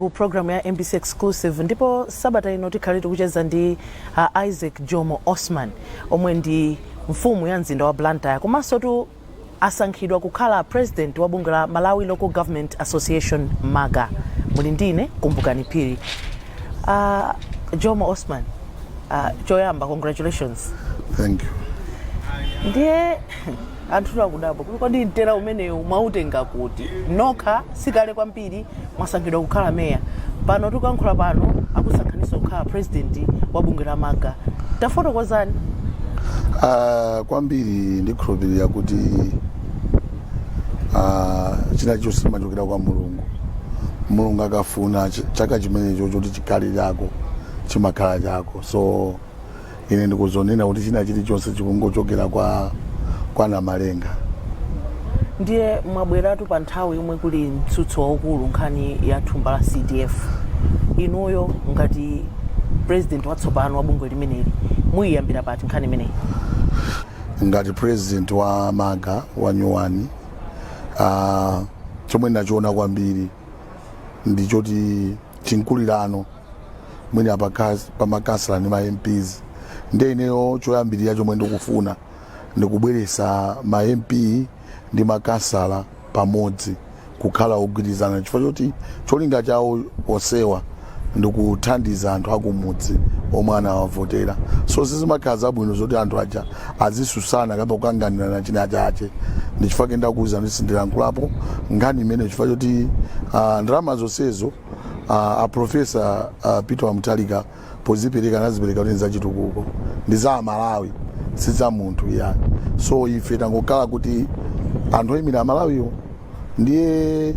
ku programu ya mbc exclusive ndipo sabata ino tikhale tikucheza ndi uh, isaac jomo osman omwe ndi mfumu ya mzinda wa blantyre komansotu asankhidwa kukhala president wa bungwe la malawi local government association malga muli ndine kumbukani phiri uh, jomo osman uh, choyamba congratulations Thank you. ndiye Anthutu akudabwa kuti kodi mtera umenewu mwautenga kuti? Nokha sikale kwambiri mwasankhidwa kukhala mayor. Pano tikuyankhula pano akusankhaninso kukhala president wa bungwe la Malga. Tafotokozani. Aaa kwambiri ndikhulupilira kuti aaa china chilichonse chimachokera kwa Mulungu. Mulungu akafuna chaka chimenecho choti chikhale chako chimakhala chako. So ine ndikuziona kuti china chilichonse chikungochokera kwa kwa namalenga ndiye mwabweratu pa nthawi yomwe kuli mtsutso waukulu nkhani ya thumba la cdf inuyo ngati president watsopano wa bungwe limeneli muyiyambira pati nkhani imeneyi ngati president wa malga wa nyuwani uh, chomwe ndachiona kwambiri ndi choti chinkulirano mwina pakas- pamakansala ndi ma mps ndiye ineyo choyambirira chomwe ndikufuna ndikubweresa ma mp ndi makansala pamodzi kukhala ogwirizana chifukwa choti cholinga chawo onsewa ndikuthandiza anthu akumudzi omwe anawavotera so sizimakhala zabwino zoti anthu aja azisusana kapena kukanganirana china chache ndichifukwa ke ndakuwuzani kuti sindilankhulapo nkhani imene chifukwa choti ah, ndalama zonsezo ah, a profesa ah, peter wa mutharika pozipereka anazipereka kuti nzachitukuko ndi za amalawi si za munthu iyayi so ife tangokhala kuti anthu oyimira amalawiwo ndiye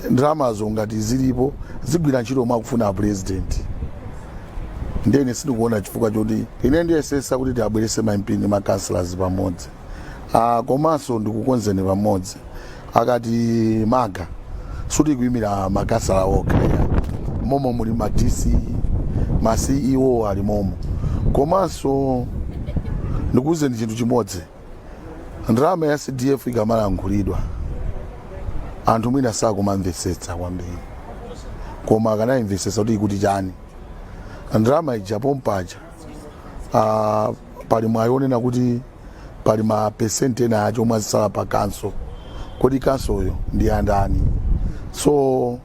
ndalamazo ngati zilipo zigwira ntchito momwe akufuna apurezidenti ndiye ine sindikuona chifukwa choti ine ndiyesesa kuti tiabwerese ma mp ndi ma councillors pamodzi Ah, komanso ndikukonzeni pamodzi akati malga sikuti kuimira makansala okha ya. mmomo muli ma dc ma ceo ali mmomo komanso ndikuwuzeni chinthu chimodzi ndalama ya cdf ikamalankhulidwa anthu mwina sakumamvetsetsa kwambiri koma akanayimvetsetsa kuti ikuti chani ndalama ija pompaja ah, pali mwayi onena kuti pali ma percent ena ache omwe azisala pa khonsolo kodi khonsoloyo ndi andani so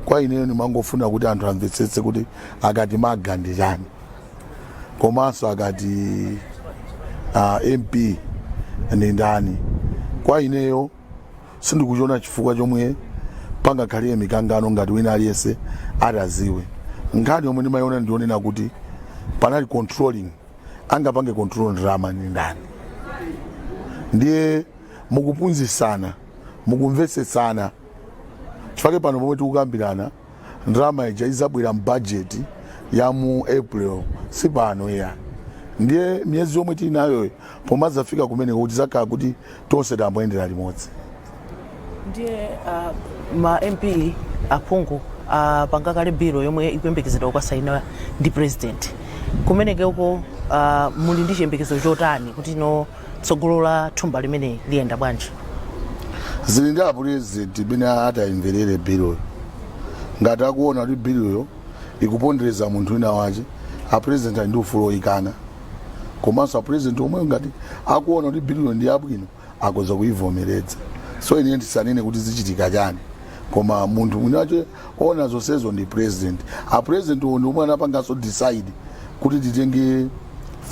kwa ineyo ndimangofuna kuti anthu amvetsetse kuti akati malga ndi chani komanso akati ah, mp ndi ndani kwa ineyo sindikuchiona chifukwa chomwe pangakhale mikangano ngati wina aliyense atadziwe nkhani yomwe ndimayiona ndi yonena kuti panali controlling angapange control ndalama ndi ndani ndiye mukuphunzitsana mukumvetsetsana chifukwa pano pomwe tikukambirana ndalama ija idzabwera m'bajeti ya mu april si pano iyayi ndiye miyezi yomwe tili nayoyo pomadzafika kumeneko tidzakhala kuti tonse tayamba kuyendera limodzi ndiye ah, ma mp aphungu apanga kale bilu yomwe ikuyembekezedwa kukasainidwa ndi president kumenekeko ah, muli ndi chiyembekezo chotani kuti no Tsogolo la thumba limeneli liyenda bwanji? Zili ndi apulezidenti mmene atayimverere biloyo. Ngati akuona kuti biloyo ikupondereza munthu wina wake, apulezidenti ali ndi ufulu woyikana. Komanso apulezidenti omwewo ngati akuona kuti biloyo ndi yabwino akoza kuyivomeredza. So ine ndisanene kuti zichitika chani koma munthu mwini wake wa zonsezo ndi president a president-wo ndi omwe anapanganso decide kuti titenge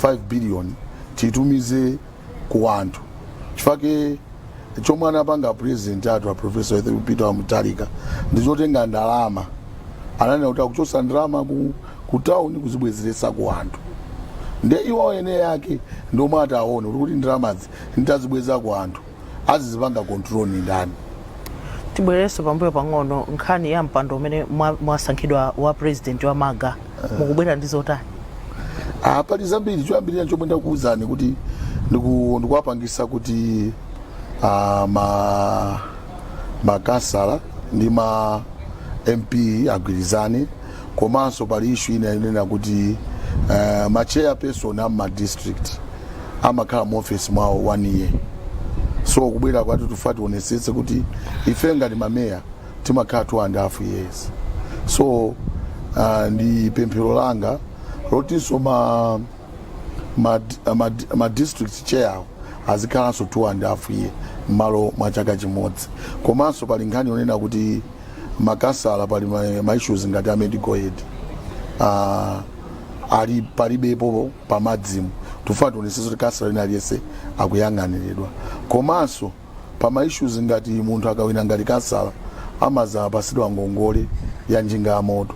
5 billion titumize ku anthu chifukwa chomwe anapanga president athu a professor Arthur Peter wa Mutharika ndi chotenga ndalama ananena kuti akuchotsa ndalama ku, ku town kuzibwezeretsa ku anthu nde iwo eni ake ndi omwe ataone kuti ndalamazi nditazibweza ku anthu azidzapanga control ndi ndani tibwererenso pambuyo pang'ono nkhani ya mpando umene mwa- mwasankhidwa wa president wa maga mukubwera ndi zotani Ah, pali zambiri choyambirira chomwe ndakuwuzani kuti ndiku- ndikuwapangisa kuti ah, ma makansala ndi ma mp agwirizane komanso pali issue ina yonena kuti uh, ma chairperson a ma district amakhala mu office mwawo one year so kubwera kwathu tufuna tionesetse kuti ife ngati mameya timakhala two and a half years so uh, ndi pemphero langa lotinso ma ma, ma, ma district chair-wo azikhalanso two and half year mmalo mwa chaka chimodzi komanso pali nkhani yonena kuti makansala pali ma, ma issues ngati a medical aid uh, panali palibepo pamadzimu tufuna tionesetse kuti kansala wina aliyense akuyang'aniridwa komanso pa ma issues ngati munthu akawina ngati kansala amazapasidwa ngongole ya njinga ya moto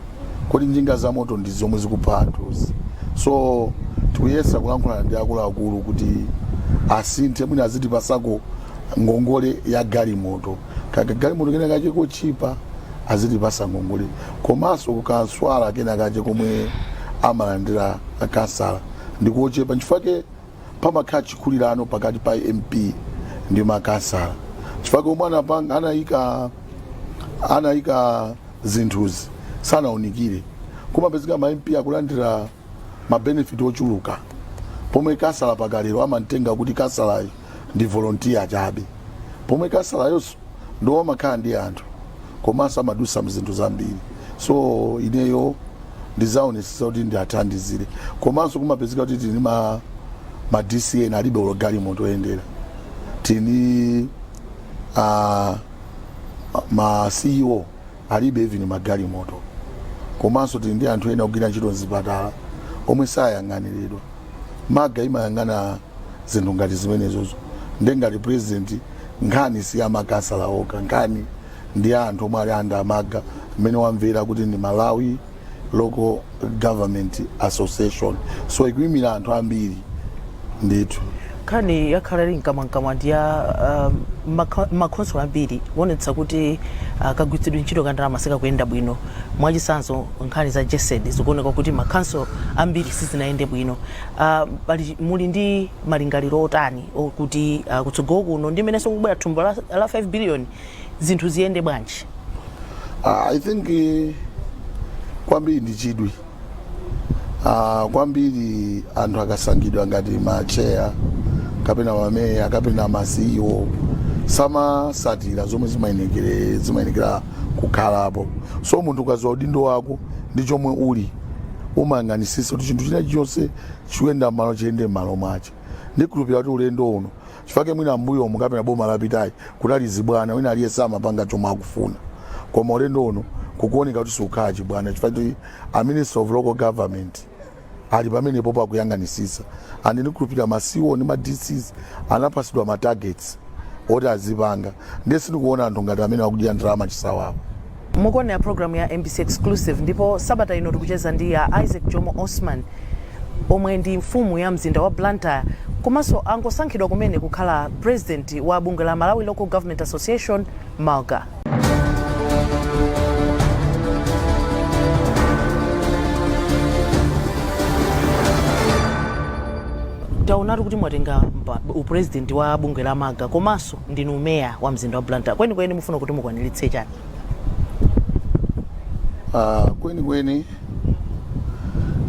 kodi njinga za moto zomwe zikupha anthuzi so tikuyesa kulankhulana ndi akuluakulu kuti asinthe mwina azitipasako ngongole ya galimoto kaka galimoto kena kache kochipa azitipasa ngongole komanso ka transport allowance kena kache komwe amalandira kansala ndikochepa nchifukwa chake pamakhala chikulirano pakati pa mp ndi makansala chifukwa omwe anapanga anayika anayika zinthuzi sanaunikire kumapezeka ma mp akulandira mabenefit ochuluka pomwe kansala pakalero amamutenga kuti kansalayo ndi volontiya chabe pomwe kansalayonso ndiwo amakhala ndi anthu komanso amadusa mzinthu zambiri so ineyo ndizaonesesa kuti ndiathandizire komanso kumapezeka kuti tili ndi ma dc ena alibe olo galimoto oyendera tili ndi uh, ma ceo alibe even magalimoto komanso tili ndi anthu ena ogwira ntchito mzipatala omwe sayang'aniridwa malga imayang'ana zinthu ngati zimenezozo nde ngati president nkhani si ya makansala okha nkhani ndi ya anthu omwe ali under a malga mmene mwamvera kuti ndi malawi local government association so ikuyimira anthu ambiri ndithu Nkhani yakhala ili mkamwamkamwa ndi ya m'makhonsolo ambiri kuonetsa kuti kagwiritsidwe ntchito ka ndalama sikakuyenda bwino. Mwachitsanzo nkhani za Gesd zikuoneka kuti makhonsolo ambiri sizinayende bwino. Muli ndi malingaliro otani okuti kutsogolo kuno ndi mmenenso kukubwera thumba la la 5 billion zinthu ziyende bwanji? I think kwambiri ndi chidwi. Ah, kwambiri anthu akasankhidwa ngati matcheya kapena mameya kapena ma CEO samasatira zomwe zimayenekere zimayenekera kukhalapo so munthu ukaziwa udindo wako ndi chomwe uli umayang'anisisa kuti chinthu china chonse chikuyenda mmalo chiyende mmalo mwache ndikhulupira kuti ulendo uno Chifake mwina mbuyomu kapena boma lapitali kunali zibwana wina aliyese amapanga chomwe akufuna koma ulendo uno kukuoneka kuti sikukhala chibwana chifukwa choti a Minister of Local Government ali pamenepopo akuyang'anisisa and ndikhulupirira ma CEO ndi ma DCs anapasidwa ma targets oti azipanga ndiye sindikuona anthu ngati amene akudya ndalama chisawawa. Mukuona program ya mbc Exclusive ndipo sabata ino tikucheza ndi a Isaac Jomo Osman omwe ndi mfumu ya mzinda wa Blantyre komanso angosankhidwa kumene kukhala president wa bungwe la Malawi Local Government Association, Malga. Taonatu kuti mwatenga mpa- upresident wa bungwe la Malga komanso ndinu meya wa mzinda wa blantyre kwenikweni mukufuna kuti mukwaniritse chani Ah, kwenikweni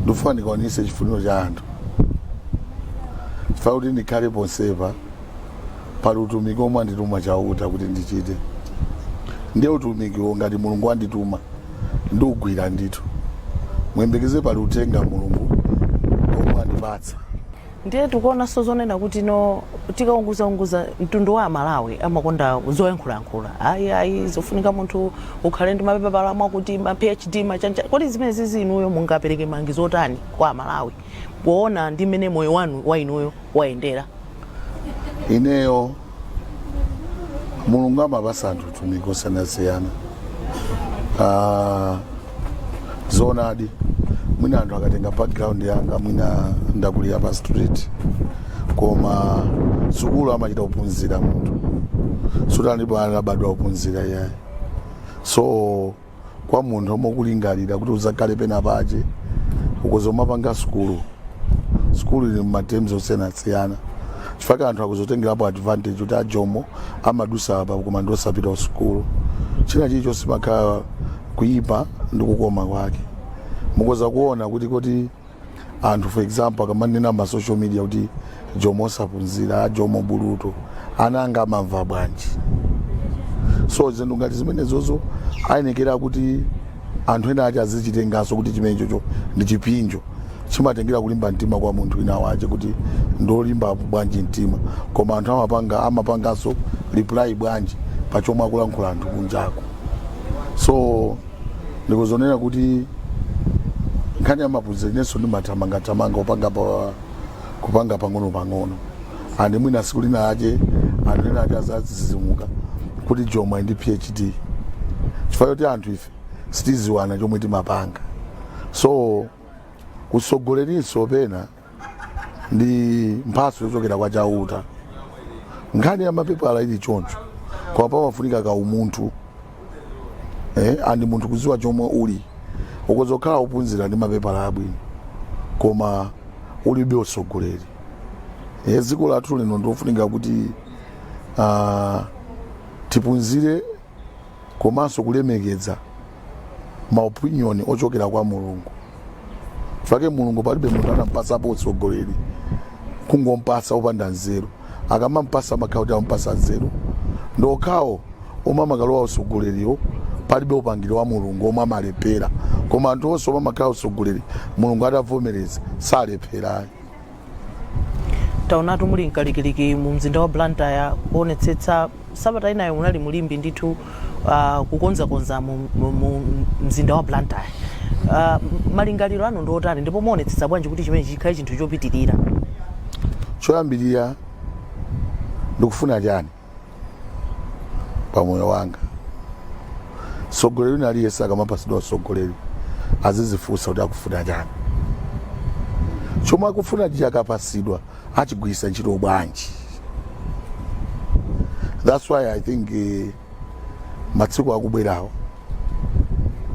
ndikufuna ndikwaniritse chifuniro cha anthu chifukwa kuti ndikhale ponsepo pali utumiki omwe andituma chauta kuti ndichite ndiye utumikiwo ngati mulungu andituma ndiugwira ndithu muyembekeze pali uthenga mulungu omwe andipatsa ndiye tikuonanso zonena kuti no tikaunguzaunguza mtundu wa amalawi amakonda zoyankhulayankhula ayi ayi zofunika munthu ukhale ndi mapepala mwakuti ma phd machanja kodi zimenezizi inuyo mungapereke malangizo otani kwa amalawi poona ndi mmene moyo wanu wa inuyo wayendera ineyo mulungu amapasa anthu utumiki wosiyanasiyana Ah, zoonadi mwina anthu akatenga background yanga mwina ndakulira pa street koma sukulu amachita kuphunzira munthu sutinso alipo anabadwa ophunzira iyayi so kwa munthu omwe ukulingalira kuti uzakhale pena pache ukhoza kumapanga sukulu sukulu ili mma terms osiyanasiyana chifukwa anthu akuzotengerapo advantage kuti ajomo amadusa apa koma ndi osapita kusukulu china chilichonse chimakhala kuyipa ndi kukoma kwake mukhoza kuona kuti kuti anthu for example akamanena ma social media kuti jomo saphunzira jomo bulutu ana anga amamva bwanji so zinthu ngati zimenezozo ayenekera kuti anthu ena ache azichitenganso kuti chimenechocho ndi chipsinjo chimatengera kulimba mtima kwa munthu wina wache kuti ndolimba bwanji mtima koma anthu amapanga amapanganso reply bwanji pa chomwe akulankhula anthu kunjako so ndikudzanena kuti nkhani ya maphunziro inenso ndimathamangathamanga kupa kupanga pang'ono-pang'ono andi mwina siku lina lache anthu ena ache azazizimuka kuti jomo ali ndi phd chifukwa choti anthu ife sitiziwana chomwe timapanga so utsogolerinso pena ndi mphatso yochokera kwa chauta nkhani ya mapepala ili choncho koma pamafunika ka umunthu eh, andi munthu kuziwa chomwe uli ukhoza kukhala ophunzira ndi mapepala abwino koma ulibe usogoleri eh, dziko lathu lino ndi lofunika kuti ah, tiphunzire komanso kulemekeza ma opinion ochokera kwa mulungu chifukwa mulungu palibe munthu anampasapo utsogoleri kungompasa opanda nzeru akamampasa amakhala kuti ampasa nzeru ndi okhawo omwe amakalowa utsogoleriwo palibe upangiri wa mulungu omwe amalephera koma anthu onse omwe amakhala atsogoleri mulungu atavomereza salephera ayi taonatu muli mkalikiliki mu mzinda wa blantyre kuonetsetsa sabata inayo munali mulimbi ndithu uh, kukonzakonza mu, mu, mu mzinda wa blantyre uh, malingaliro anu ndi otani ndipo muonetsetsa bwanji kuti chimenechi chikhale chinthu chopitirira choyambirira ndikufuna chani pa moyo wanga mtsogoleri wina aliyense akamapatsidwa utsogoleri azizifunsa kuti akufuna chani chomwe akufuna chikapatsidwa achigwiritsa ntchito bwanji that's why i think eh, matsiku akubwerawo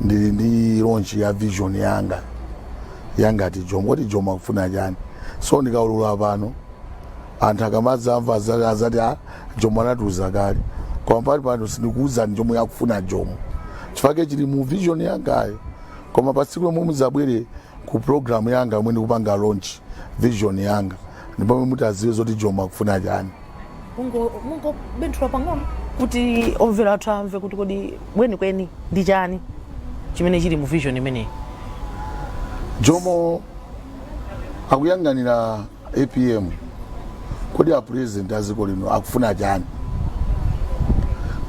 ndili ndi launch ya vision yanga yangati jomo kuti jomo akufuna chani so ndikaulula pano anthu akamadzamva aza- azati a jomo anatiuza kale koma panipano sindikuuzani chomwe akufuna jomo chifukwa chili mu vision yangayo koma pa tsiku lomwe muzabwere ku programu yanga yomwe ndikupanga launch vision yanga ndipo pomwe mutaziwe zoti jomo akufuna chani mungo mungo benthula pang'ono kuti omvera athu amve kuti kodi kwenikweni ndi chani chimene chili mu vision imeneyi jomo akuyang'anira apm kodi a president a dziko lino akufuna chani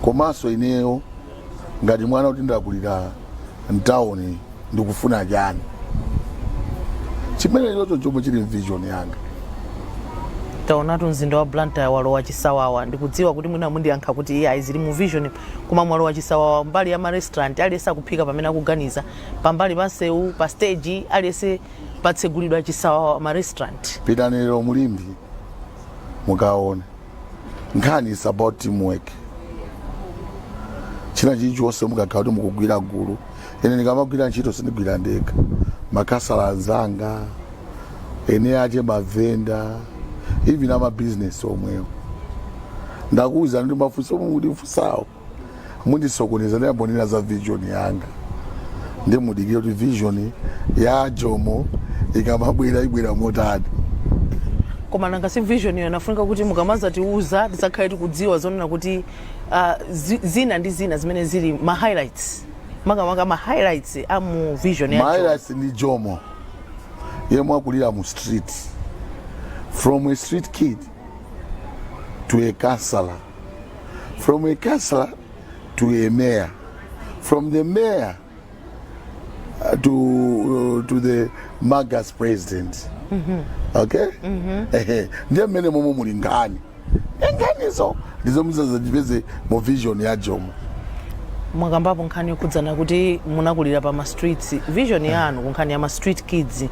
komanso ineyo ngati mwana kuti ndakulira mtawuni ndikufuna chani chimene ndi chomwe chili mvision yanga taonatu mzinda wa blantyre walowa chisawawa ndikudziwa kuti mwina mundiyankha kuti iyayi zili mu vision koma mwalowa chisawawa mbali ya marestaurant aliyense akuphika pamene akuganiza pambali pa nsewu pa stage aliyense patsegulidwa chisawawa ma restaurant pitani lero mulimbi mukaone nkhani is about teamwork china chilichonse mukakhala kuti mukugwira gulu ine ndikamagwira ntchito sindigwira ndekha makhansala anzanga eni ake mavenda even amabizinesi omwewo ndakuwuzani kuti mafunso omwe mukundifunsawo mundisokoneza ndiyamba kunena za vision yanga ndi mudikire kuti vision ya jomo ikamabwera ibwera motani koma nanga si vision iyo inafunika kuti mukamazatiuza tizakhale tikudziwa zonena kuti ah, zi- zina ndi zina zimene zili ma highlights makamaka ma highlights a mu vision ya mahighlights ndi jomo yemwe wakulira mu street from a street kid to a councillor from a councillor to a mayor, from the mayor uh, to uh, to the MALGA's president. Okay? Ehe, ndiye mmene momwe muli nkhani eh nkhanizo ndi zomwe muzazipeze mu vision ya jomo mwakambapo nkhani yokhudzana kuti munakulira pa ma streets vision yanu ku nkhani ya ma street kids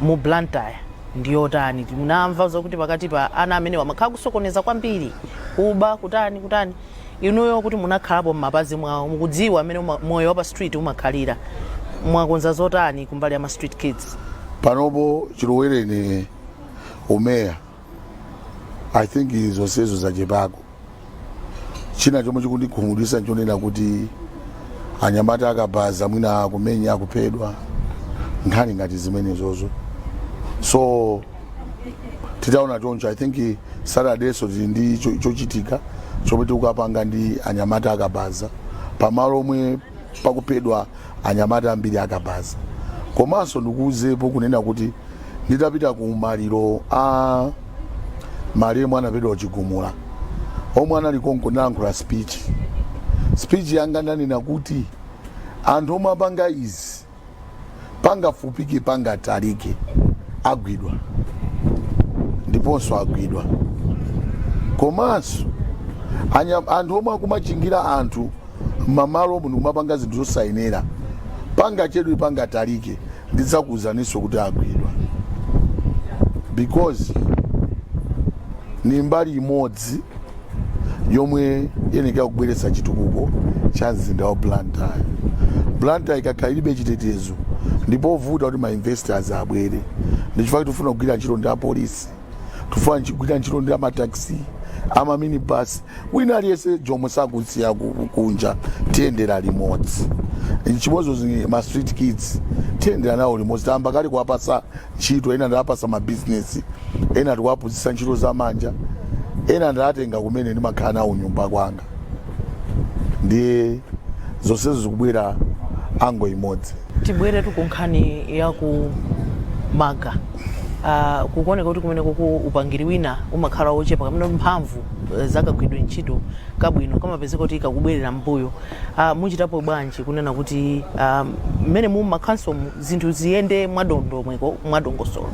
mu blantyre ndi yotani? Munamva zokuti pakati pa ana amenewa mumakhala kusokoneza kwambiri, kuba, kutani, kutani. Inuyo kuti munakhalapo m'mapazi mwawo, mukudziwa m'mene uma, moyo wa pa street umakhalira. Mwakonza zotani kumbali ya ma street kids? Panopo chilowereni umeya, I think zonsezo zachepako. china chomwe chikundikhumudwitsa nchonena kuti anyamata akabaza mwina akumenya akuphedwa nkhani ngati zimenezozo so titaona choncho i think saturdayso tili ndi cho- chochitika chomwe tikukapanga ndi anyamata akabaza pamalo omwe pakuphedwa anyamata ambiri akabaza komanso ndikuuzepo kunena kuti nditapita ku maliro a malemu anaphedwa Chigumula omwe anali konko nalankhula speech speech yanga ndanena kuti anthu omwe apanga izi pangafupike pangatalike agwidwa ndiponso agwidwa komanso anya- anthu omwe akumachingira anthu mamalo omwe ndikumapanga zinthu zosayenera pangachedwe pangatalike ndidzakuuzaninso kuti agwidwa because ni mbali imodzi yomwe iyenekera kubweretsa chitukuko cha mzinda wa blantyre blantyre ikakhala ilibe chitetezo ndi povuta kuti mainvestors abwere ndichifukwa tufuna kugwira ntchito ndi apolisi tufuna nchi- kugwira ntchito ndi amataxi amaminibus wina aliyense jomwe sakusiya ku- kunja tiyendera limodzi chimodzimodzi ma street kids tiyendera nawo limodzi tayamba kale kuwapasa ntchito, ena ndawapasa mabizinesi, ena tikuwaphunzitsa ntchito za manja, ena ndawatenga kumene ndimakhala nawo kunyumba kwanga. Ndiye zonsezo zikubwera angle imodzi. Tibweretu ku nkhani ya ku Maga. Ah, kukuoneka kuti kumeneku upangiri wina umakhala wochepa kapena mphamvu eh, za kagwiridwe ntchito kabwino kamapezeka kuti kakubwerera m'mbuyo. Ah, muchitapo bwanji kunena kuti ah, mmene mu makhanso zinthu ziyende mwadondomweko, mwadongosolo.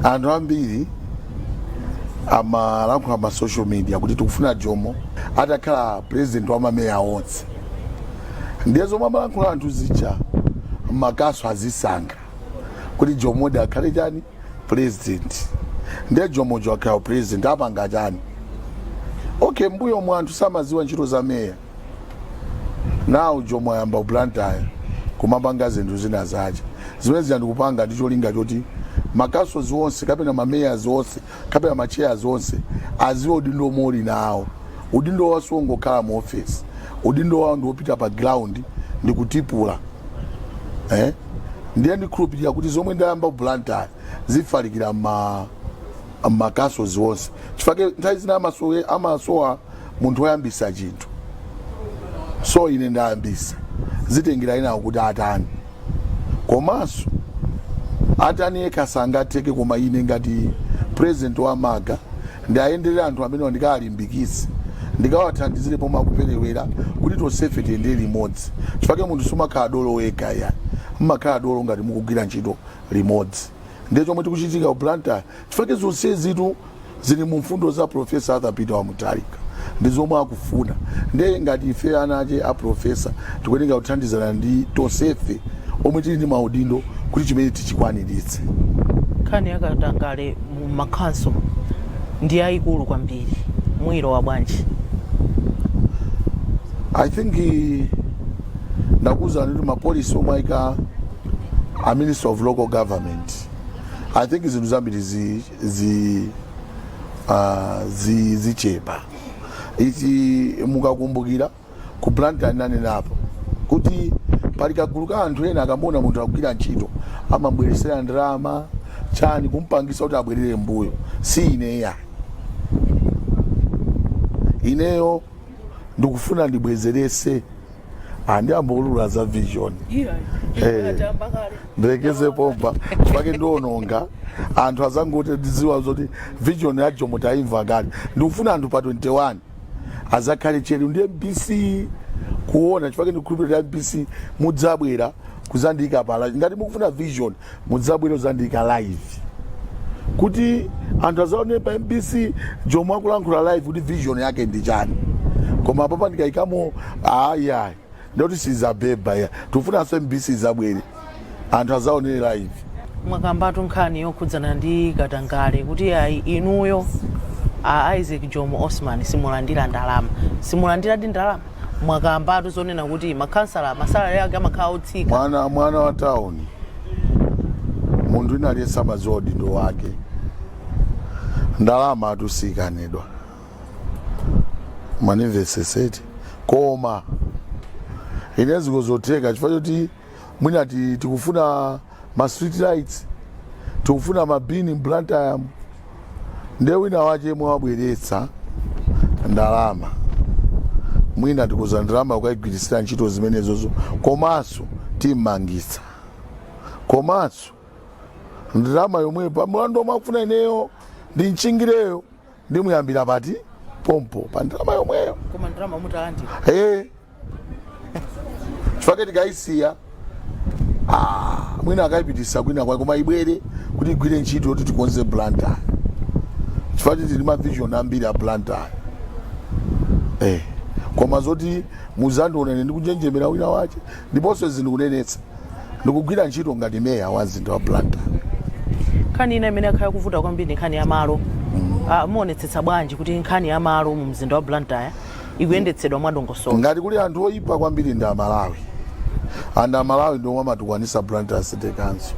Anthu ambiri amalankhula ma social media kuti tikufuna Jomo atakhala president wa mameya onse, ndiye zomwe amalankhula anthu zija makhanso azisankha kuti Jomodi akhale chani president, ndiye Jomojo akhala president apanga chani? Okay, mbuyomu anthu samaziwa ntchito za meya. nawo Jomo ayamba ku Blantyre kumapanga zinthu zina zache zimenezi ndikupanga ndi cholinga choti makhansolo onse kapena mameya onse kapena macheya onse aziwe udindo omwe uli nawo udindo wawo siwongokhala mu ofesi udindo wawo ndiwopita pa ground ndi kutipula eh? ndiye ndikhulupirira kuti zomwe ndayamba ku Blantyre zifalikira mmakhansolo onse chifake nthawi zina amasowa munthu oyambisa chinthu so ine ndayambisa zitengera enawo kuti atani komanso ataniyo yekha sangatheke koma ine ngati president wa MALGA ndiayendere anthu amenewa ndikawalimbikitse ndikawathandizire pomwe akuperewera kuti tonsefe tiyende limodzi chifake munthu sumakhala dolo wekha ya mmakhala dolo ngati mukugwira ntchito limodzi ndiye chomwe chikuchitika ku blantyre chifake zonsezitu zili mu mfundo za Professor Arthur Peter Mutharika ndi zomwe akufuna nde ngati ife ana ache a professor tikuyeneka kuthandizana ndi tonsefe omwe tili ndi maudindo kuti chimene tichikwaniritse. Nkhani ya katangale mu makhansolo ndi yayikulu kwambiri, muyilowa bwanji? I think eh, ndakuwuzani kuti mapolisi omwe ayika a Minister of Local Government I think zinthu zambiri zi zi uh, zi zichepa I think mukakumbukira ku blantyre nanenapo kuti pali kagulu ka anthu ena akamuona munthu akugwira ntchito amambweresera ndalama chani kumpangisa kuti abwerere mbuyo si ineya ineyo ndikufuna ndibwezerese Ah, ndiyamba kuulula za vision Eh. ndilekeze pompa pake ndiononga anthu azangote ndiziwa zoti vision ya jomo taimva kale ndikufuna anthu pa 21 azakhale tcheru ndi mbc kuona chifake ndikukhulupirira mbc mudzabwera kuzandiyika pala ngati mukufuna vision Mudzabwere udzandiika live kuti anthu azaonere pa mbc jomo akulankhula live kuti vision yake ndi chani koma apapa ndikaikamo ayayi ndikuti sizabeba ya tikufunanso mbc izabwere anthu azaonere live mwakambatu nkhani yokhudzana ndi katangale kuti ayi inuyo a isaac jomo osman simulandira ndalama simulandiradi ndalama mwakambatu zonena kuti makhansala masalale ake amakhala otsika mwana mwana wa town munthu wina aliyense amadziwa udindo wake ndalama atusiyikanidwa mandimvesesetu koma ine sizingatheke chifukwa choti mwina ti- tikufuna ma street lights tikufuna ma bin Blantyre ndiye wina wache yemwe wabweretsa ndalama mwina tikuuza ndalama kukayigwirisira ntchito zimenezozo komanso timmangitsa komanso ndalama yomwe pa mulandu omwe akufuna ineyo ndimchingirayo ndimuyambira pati pompo pa ndalama yomweyo koma ndalama mutalandira Eh. chifukwa tikayisiya Ah, mwina akayipitisa kwina kwake koma ibwere kuti igwire ntchito yoti tikonze blantyre chifukwa tili ndi mavision ambiri a blantyre eh. koma zoti muzandiona ndikunjenjemera wina wache ndiponso izi ndikunenetsa ndikugwira ntchito ngati meya wa mzinda wa blantyre nkhani ina imene yakhala kuvuta kwambiri ndi nkhani ya malo Ah, muonetsetsa bwanji kuti nkhani ya malo mu mzinda wa blantyre ikuyendetsedwa mwadongosolo ngati kuli anthu oyipa kwambiri ndi amalawi and amalawi ndiomwe amatukwanisa blantyre city council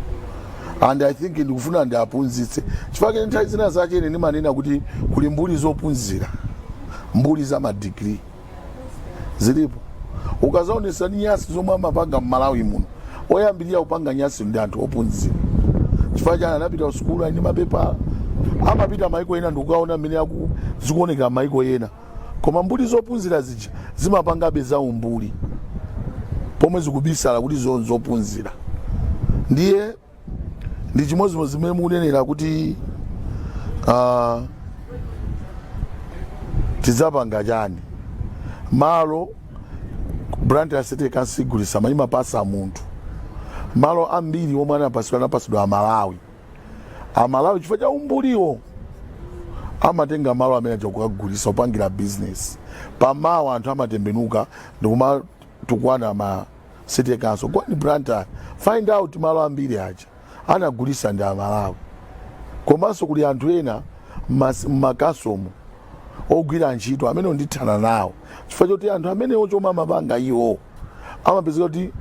and i think ndikufuna ndiaphunzitse chifukwa chake ine nthawi zina zake ine ndimanena kuti kuli mbuli zophunzira mbuli za madigiri zilipo ukazaonesesa nyasi zomwe amapanga mmalawi muno oyambirira kupanga nyasi ndi anthu ophunzira chifukwa chani anapita kusukulu ali ndi mapepala amapita maiko ena ndikukaona mmene zikuonekera maiko ena koma mbuli zophunzira zija zimapangabe za umbuli pomwe zikubisala kuti zo- zophunzira ndiye ndi chimodzimodzi zimene mukunenera kuti ah, tidzapanga chani malo Blantyre city council sigulisa ayi imapasa munthu malo ambiri omwe anapasidwa anapasidwa amalawi amalawi chifukwa cha umbuliwo amatenga malo amene aja kukagulisa opangira business pamawa anthu amatembenuka ndikumatukwana ma city council go in blantyre find out malo ambiri aja anagulisa ndi amalawi komanso kuli anthu ena mas- m'makhansolomo ogwira ntchito amene ndithana nawo chifukwa choti anthu amenewo chomwe amapanga iwo amapezeka kuti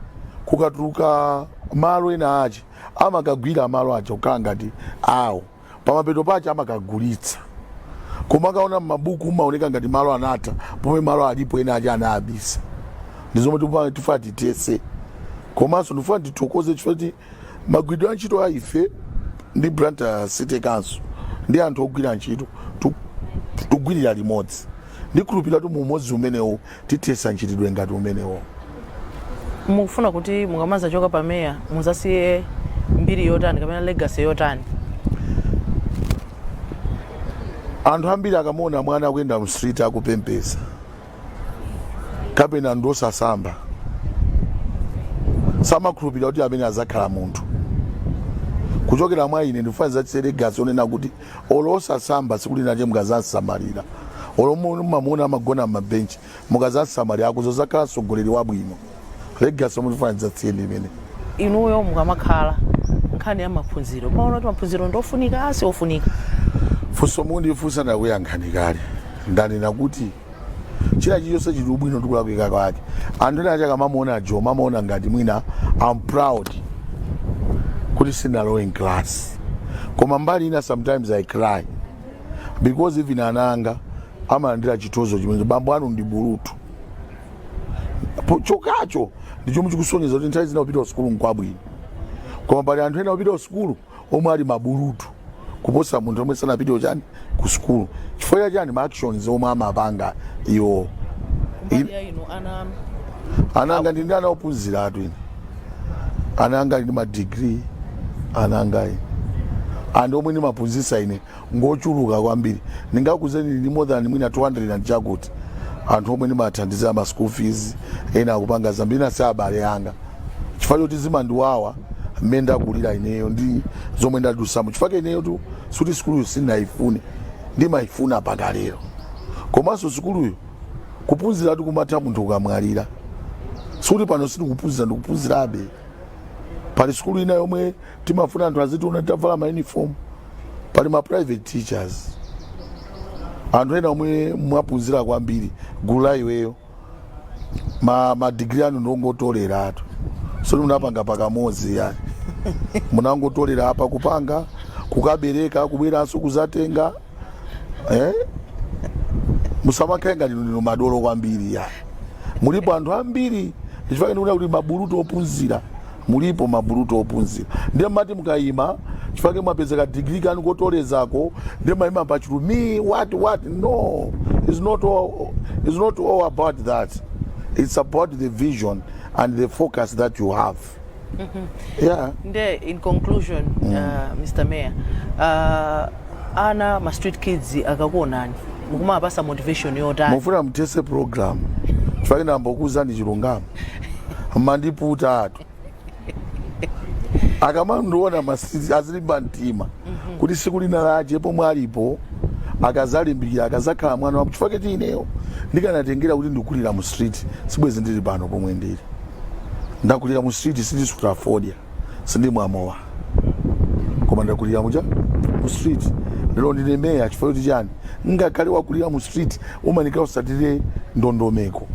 kukatuluka malo ena ache amakagwira malo aja kukhala ngati awo pamapeto pache amakagulitsa koma ukaona m'mabuku amaoneka ngati malo anatha pomwe malo alipo ena aja anaabisa ndi zomwe tipa- tifuna tithetse komanso ndifuna tithokoze chifukwa choti magwiridwe a ntchito a ife ndi Blantyre city council ndi anthu ogwira ntchito tu- tugwirira limodzi ndikhulupirira kuti mu umodzi umenewu Tithetsa mchitidwe ngati umenewo. Mukufuna kuti mukamadzachoka pa mayor mudzasiye mbiri yotani kapena legacy yotani? Anthu ambiri akamaona mwana akuyenda mu street akupemphetsa kapena ndi osasamba samakhulupirira kuti ameneyu adzakhala munthu. Kuchokera mwa ine ndikufuna ndidzasiye legacy yonena kuti olo osasamba tsiku linalake mukazasamalira olo mu- mumamuona amagona m'mabenchi mukazamsamalira akuzazakhala mtsogoleri wabwino legacy yomwe ndikufuna ndidzasiye ndi imeneyo inuyo mukamakhala nkhani ya maphunziro mumaona kuti maphunziro ndofunika si ofunika funso mwandifunsa ndakuyankhani kale ndanena kuti china chilichonse chili ubwino ndi kulakwika kwake anthu ena akamamuona jo mumaona ngati mwina I'm proud kuti sindinalowe m'class koma mbali ina sometimes i cry because even ana anga amalandira chitozo chomwe bambo anu ndi bulutu Po- chokacho ndi chomwe chikusonyeza kuti nthawi zina kupita kusukulu nkwabwino koma pali anthu ena kupita kusukulu omwe ali mabulutu kuposa munthu yemwe sanapitewo chani ku sukulu chifukwa cha chani ma actions omwe amapanga iwo mbali ya inu ana anu ana anga ndi ndi ana ophunziratu ine ana anga ali ndi madigiri ana angawo anthu omwe ndimaphunzitsa ine ngochuluka kwambiri ndingakuuzeni ndi more than mwina 200 and chakuti anthu omwe ndimathandizira ma school fees ena akupanga zambiri ena si abale anga chifukwa choti zimandiwawa mmene ndakulira ineyo ndi zomwe ndadusamo chifukwa chake ineyotu sikuti sukuluyo sindinayifune ndimayifuna mpaka lero komanso sukuluyo kuphunziratu kumatha munthu ukamwalira sikuti pano sindikuphunzira ndikuphunzirabe pali sukulu ina yomwe timafuna anthu azitiona titavala ma uniform pali ma private teachers anthu ena omwe mwaphunzira kwambiri gulu la iweyo ma, ma degree anu ndongotoleratu sikuti munapanga pakamodzi ayi munangotolera apa kupanga kukabereka kubweranso kuzatenga eh? musamakhale ngati ndinu madolo kwambiri ya mulipo anthu ambiri ndichifukwa chake ndikuti mabulutu ophunzira mulipo mabulutu ophunzira ndiye mumati mukayima chifukwa mwapeza kadigiri kanu kotolerako ndiye mumayima pachulu me what what no it's not all, it's not all about that it's about the vision and the focus that you have yeah nde in conclusion uh, mr mayor uh, ana ma street kids akakuonani mukuwapasa motivation yotani mufuna mthese program chifukwa ndambokuuzani chilungamo mandiputa atu akamandiona ma street kids azilimba mtima kuti siku lina lache pomwe alipo akazalimbikira akazakhala mwana wa apa chifukwa choti ineyo ndikanatengera kuti ndikulira mu street sibwezi ndili pano pomwe ndili ndakulira mu street sindisuta fodya sindimwa mowa koma ndakulira muja mu street lero ndine meya chifukwa choti chani ngakhale wakulira mu street umafunika usatire ndondomeko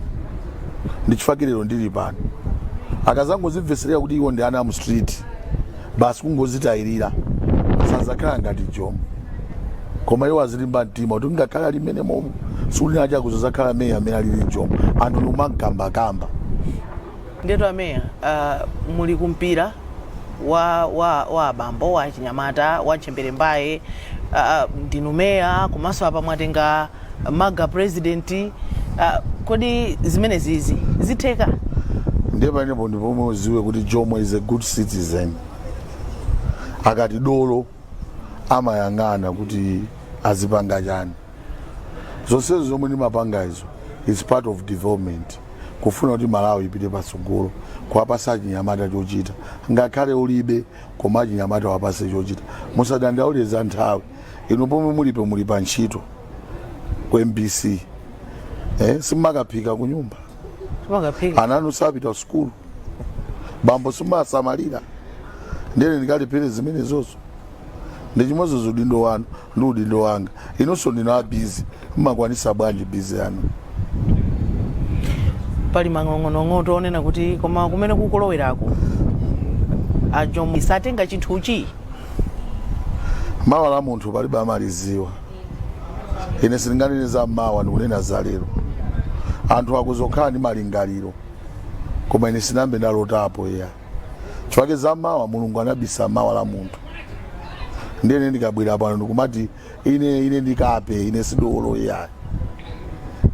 ndi chifukwa lero ndili pano akazangozimveserera kuti iwo ndi ana a mu street basi kungozitayirira sazakhala ngati jomo koma iwo azilimba mtima kuti ngakhale ali mmene momo siku lina akhoza kuzakhala meya amene alili jomo anthu ndikumakambakamba ndetu ameya uh, muli kumpira wa, wa, wa abambo wa achinyamata wa ntchembere mbaye uh, ndinu meya komanso apa mwatenga maga president ah, kodi zimenezizi zitheka ndiye panepo ndi pomwe uziwe kuti jomo is a good citizen akati dolo amayang'ana kuti azipanga chani zonsezo zomwe ndimapanga izo is part of development kufuna kuti malawi ipite patsogolo kuwapasa achinyamata chochita ngakhale ulibe koma achinyamata wapase chochita musadandaule za nthawi inu pomwe mulipo muli pa ntchito ku mbc eh, simakaphika ku nyumba ana anu sapita kusukulu bambo simasamalira nde ine ndikalephere zimenezozo ndi chimodzimodzi udindo wanu ndi udindo wanga inunso ndinu a busy Mmakwanisa bwanji busy yanu. Pali manong'onong'otu onena kuti koma kumene kukulowerako a Jomo satenga chinthuchi? Mawa la munthu palibe amaliziwa. Ine sindinganene za mmawa ndikunena za lero. Anthu akhoza kukhala ndi malingaliro koma ine sindinayambe ndalotapo iya. Chifukwa za mawa Mulungu anabisa mawa la munthu. Ndiye ine ndikabwera pano ndikumati ine ine ndi kape ine si dolo iyayi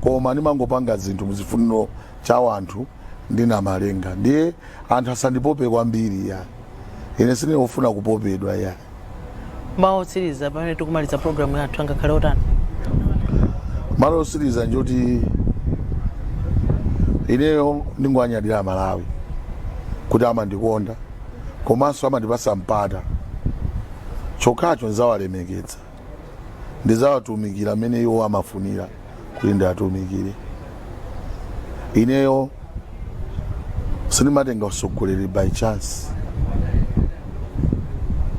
koma ndimangopanga zinthu mu chifuniro cha wanthu ndi namalenga ndiye anthu asandipope kwambiri iyayi ine sine ofuna kupopedwa iyayi mawu otsiriza pamene tikumaliza programu yathu angakhale otani mawu otsiriza ngoti ineyo ndingowanyadira amalawi kuti amandikonda komanso amandipasa mpata chokhacho ndizawalemekedza ndizawatumikira mmene iwo amafunira kuti ndiatumikire ineyo sindimatenga usogoleri by chance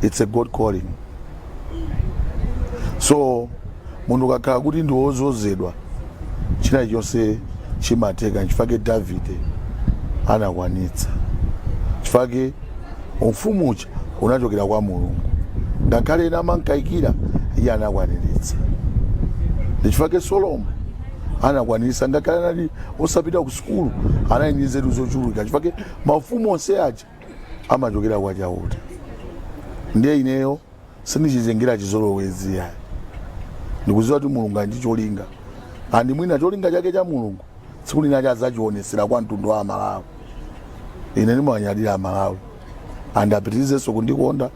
it's a god calling so munthu ukakhala kuti ndi wozozedwa china chonse chimatheka nchifake davide anakwanitsa chifake umfumu uja unachokera kwa mulungu ngakhale ena amankaikira iye anakwaniritsa ndichifake solomo anakwaniritsa ngakhale anali osapita ku sukulu anali ndi nzeru zochuluka chifake mafumu onse aja amachokera kwa chauta ndiye ineyo sindichitengera chizolowezi yayi ndikuziwa kuti mulungu ali ndi cholinga and mwina cholinga chake cha mulungu tsiku lina chadzachionesera kwa mtundu wa amalawi ine ndimawanyadira amalawi and apitirizenso kundikonda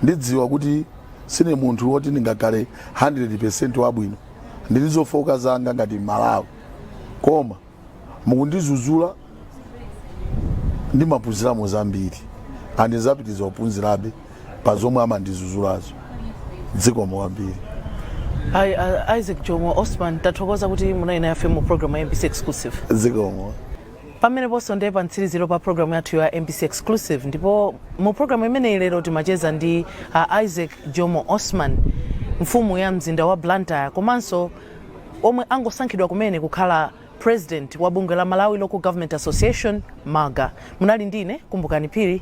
ndikudziwa kuti sine munthu woti ndingakhale 100 wabwino ndili ndi zofooka zanga ngati mmalawi koma mukundizuzula ndimaphunziramo zambiri and ndidzapitiriza kuphunzirabe pa zomwe amandizuzulazo zikomo kwambiri a isaac jomo osman tathokoza kuti munali nafe mu programu ya mbc exclusive zikomo pameneponso ndiye pa mtsiriziro pa programu yathu ya mbc exclusive ndipo mu programu imeneyi lero timacheza ndi a isaac jomo osman mfumu ya mzinda wa blantyre komanso omwe angosankhidwa kumene kukhala president wa bungwe la malawi local government association malga munali ndine kumbukani phiri